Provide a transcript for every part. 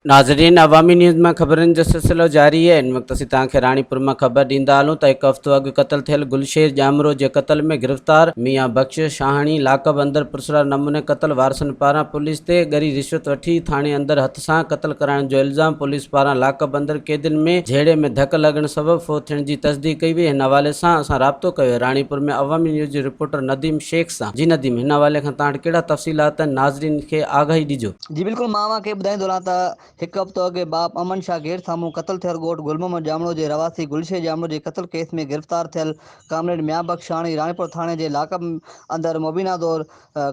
ناظرين عوامي نيوز مان خبرن جو سلسلو جاري آهي ان وقت اسين توهان کي راڻيپور مان خبر ڏيندا هلون ته هڪ هفتو اڳ قتل ٿيل گلشير ڄامرو جي قتل ۾ گرفتار ميان بخش شاهاڻي لاڪ اپ اندر پرسرار نموني قتل وارثن پاران پوليس تي ڳري رشوت وٺي ٿاڻي اندر هٿ سان قتل ڪرائڻ جو الزام پوليس پاران لاڪ اپ اندر قيدين ۾ جهيڙي ۾ ڌڪ لڳڻ سبب فوت ٿيڻ جي تصديق ڪئي وئي هن حوالي سان اسان رابطو ڪيو راڻيپور ۾ عوامي نيوز جي رپورٽر نديم شيخ سان جي نديم هن حوالي کان توهان وٽ ڪهڙا تفصيلات آهن ناظرين کي آگاهي ڏجو. جي بلڪل مان اوهان کي ٻڌائيندو رهان ته هڪ هفتو اڳي باپ امن شاهه گيٽ سامهون قتل ٿيل ڳوٺ گل محمد ڄامڙو جي رهواسي گل شير ڄامڙو جي قتل ڪيس ۾ گرفتار ٿيل ڪامريڊ ميان بخش شاهاڻي راڻيپور ٿاڻي جي لاڪ اپ اندر مبينا دور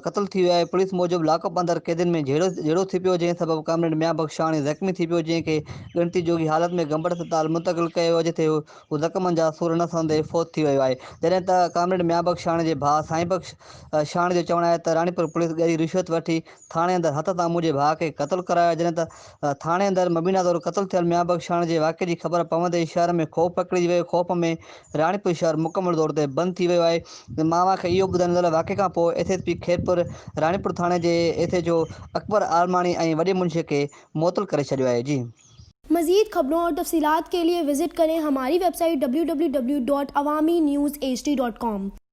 قتل ٿي ويو آهي، پوليس موجب لاڪ اپ اندر قيدين ۾ جهيڙو ٿي پيو جنهن سبب ڪامريڊ ميان بخشاڻي زخمي ٿي پيو جنهن کي ڳڻتي جوڳي حالت ۾ گمبٽ اسپتال منتقل ڪيو ويو جتي هو زخمن جا سور نه سهندي فوت ٿي ويو آهي جڏهن ته ڪامريڊ ميان بخشاڻي جي ڀاء سائين بخشاڻي جو چوڻ آهي ته راڻيپور پوليس ڳري رشوت وٺي ٿاڻي اندر هٿ سان منهنجي ڀاء کي قتل ڪرايو آهي جڏهن ته ٿاڻي اندر مبينا طور قتل ٿيل ميان بخشاڻي جي واقعي جي خبر پوندي ئي شهر ۾ خوف پکڙجي ويو خوف ۾ راڻيپور شهر مڪمل طور تي بند ٿي ويو آهي ماوا کي اهو ٻڌائڻ لاء واقعي کان پوء S S P Khairpur Ranipur ٿاڻي جي S H O Akbar Almani ۽ وڏي منشي کي معطل ڪري ڇڏيو آهي جي مزيد خبرون اور تفصيلات کے ليے وزٽ ڪرين ھماري ويب سائيٽ www.awaminews.hd.com.